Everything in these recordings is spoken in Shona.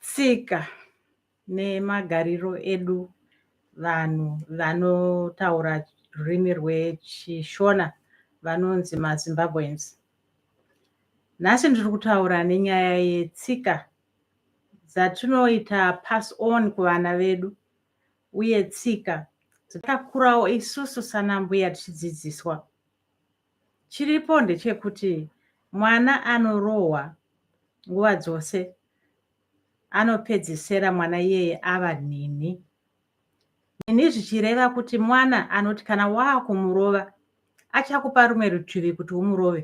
tsika nemagariro edu vanhu vanotaura rurimi rwechishona vanonzi mazimbabweans nhasi ndiri kutaura nenyaya yetsika dzatinoita pass on kuvana vedu uye tsika dzitakurawo isusu sanambuya tichidzidziswa Chiripo ndechekuti mwana anorohwa nguva dzose anopedzisira mwana iyeye ava nhinhi. Nhinhi zvichireva kuti mwana anoti kana waakumurova achakupa rumwe rutivi kuti umurove.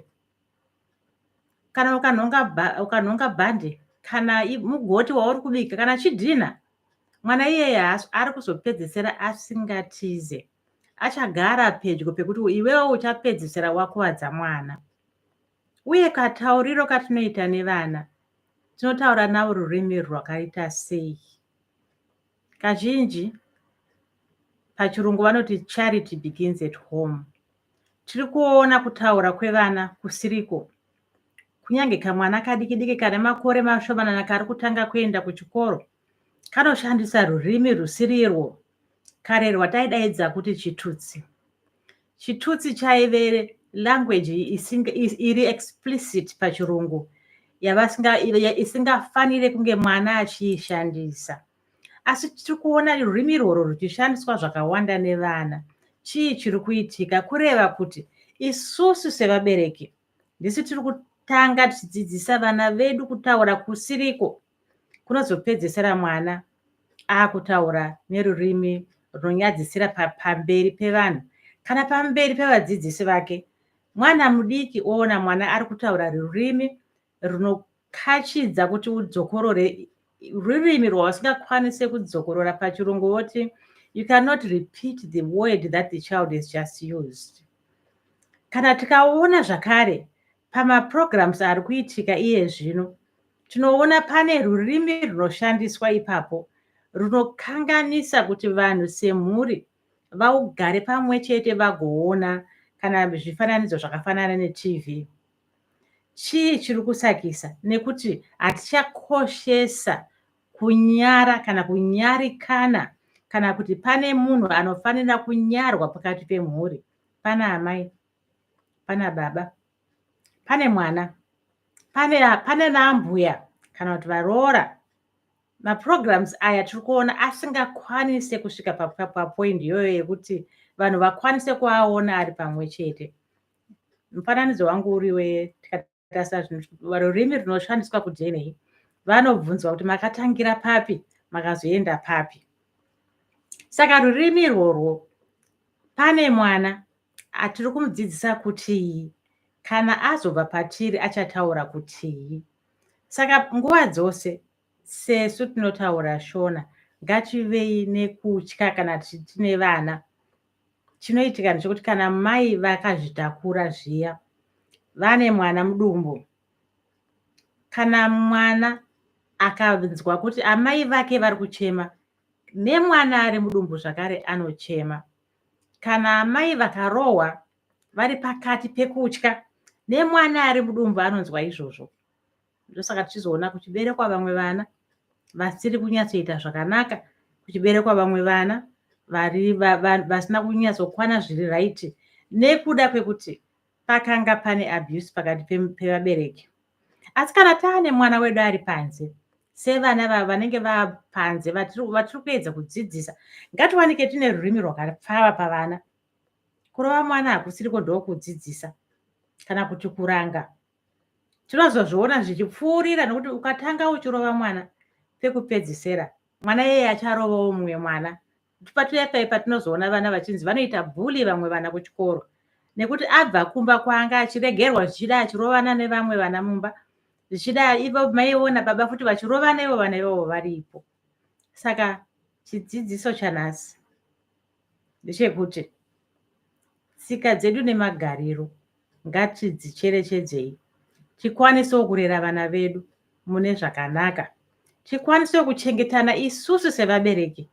kana ukanhonga ukanhonga bhande kana mugoti wauri kubika kana chidhinha mwana iyeye ari kuzopedzesera asingatize achagara pedyo pekuti iwewo uchapedzisira wakuvadza mwana uye katauriro katinoita nevana tinotaura navo rurimi rwakaita sei kazhinji pachirungu vanoti charity begins at home Tiri kuona kutaura kwevana kusiriko. Kunyange kamwana kadiki diki kane makore mashomanana kari kutanga kuenda kuchikoro kanoshandisa rurimi rusirirwo kare rwataidaidza kuti chitutsi. Chitutsi chaive language isinga, is, iri explicit pachirungu isingafanire kunge mwana achiishandisa. asi tiri kuona rurimi irworwo ruchishandiswa zvakawanda nevana chii chiri kuitika kureva kuti isusu sevabereki ndisu tiri kutanga tichidzidzisa vana vedu kutaura kusiriko kunozopedzesera mwana akutaura nerurimi runonyadzisira pamberi pevanhu kana pamberi pevadzidzisi vake mwana mudiki oona mwana ari kutaura rurimi runokachidza kuti udzokorore rurimi rwausingakwanise kudzokorora pachirungu voti you cannot repeat the word that the child is just used kana tikaona zvakare pamaprograms ari kuitika iye zvino tinoona pane rurimi runoshandiswa ipapo runokanganisa kuti vanhu semhuri vaugare pamwe chete vagoona kana zvifananidzo zvakafanana netv chii chiri kusakisa nekuti hatichakoshesa kunyara kana kunyarikana kana kuti pane munhu anofanira kunyarwa pakati pemhuri pana amai pana baba pane mwana pane pane naambuya kana kuti varoora maprograms aya tiri kuona asingakwanise kusvika papoindi iyoyo yekuti vanhu vakwanise kuaona ari pamwe chete mufananidzo wangu uriwe tikatarisa rurimi runoshandiswa kudna vanobvunzwa kuti makatangira papi makazoenda papi saka rurimi irworwo pane mwana atiri kumudzidzisa kutii kana azobva patiri achataura kutii saka nguva dzose sesu tinotaura shona ngativei nekutya kana tiine vana chinoitika ndechekuti kana mai vakazvitakura zviya vane mwana mudumbu kana mwana akanzwa kuti amai vake vari kuchema nemwana ari mudumbu zvakare anochema kana amai vakarohwa vari pakati pekutya nemwana ari mudumbu anonzwa izvozvo ndosaka tichizoona kuchiberekwa vamwe vana vasiri kunyatsoita zvakanaka kuchiberekwa vamwe vana vari vasina kunyatsokwana zviri raiti nekuda kwekuti pakanga pane abuse pakati pevabereki asi kana taane mwana wedu ari panze sevana vavo vanenge vapanze vatiri kuedza kudzidzisa ngatiwanike tine rurimi rwakapfava pavana kurova mwana hakusiriko ndokudzidzisa kana kuti kuranga tinozozviona zvichipfuurira nokuti ukatanga uchirova mwana pekupedzisera mwana yeye acharovawo mumwe mwana patuya pai patinozoona vana vachinzi vanoita bhuli vamwe vana kuchikoro nekuti abva kumba kwanga achiregerwa zvichida achirovana nevamwe vana mumba zvichida ivo maiona baba futi vachirovana ivo vana ivavo varipo saka chidzidziso chanhasi ndechekuti tsika dzedu nemagariro ngatidzicherechedzei tikwanisewo kurera vana vedu mune zvakanaka tikwanisewo kuchengetana isusu sevabereki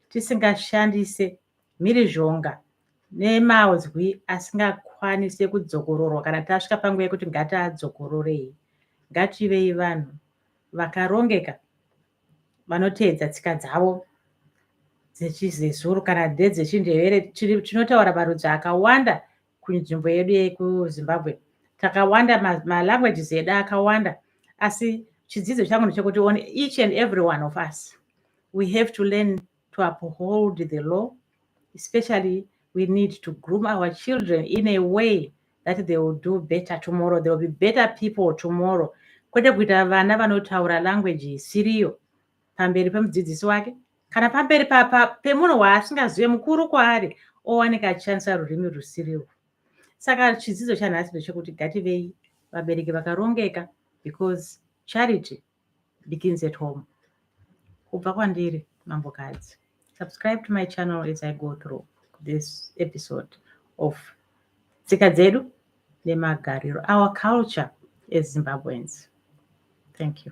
tisingashandise mhirizhonga nemazwi asingakwanise kudzokororwa kana tasvika panguva yekuti ngatiadzokororei ngativei vanhu vakarongeka vanoteedza tsika dzavo dzechizezuru kana ndedzechindevere tinotaura marudzi akawanda kunzvimbo yedu yekuzimbabwe takawanda malanguages edu akawanda asi chidzidzo changu ndechekuti on each and every one of us we have to learn to uphold the law especially we need to groom our children in a way that they will do better tomorrow they will be better people tomorrow kwete kuita vana vanotaura language isiriyo pamberi pemudzidzisi wake kana pamberi pemunhu waasingazive mukuru kwaari owanika achishandisa rurimi rusiriwo saka chidzidzo chanhasi ndechekuti gativei vabereki vakarongeka because charity begins at home kubva kwandiri mambokadzi subscribe to my channel as i go through this episode of tsika dzedu nemagariro our culture as zimbabweans thank you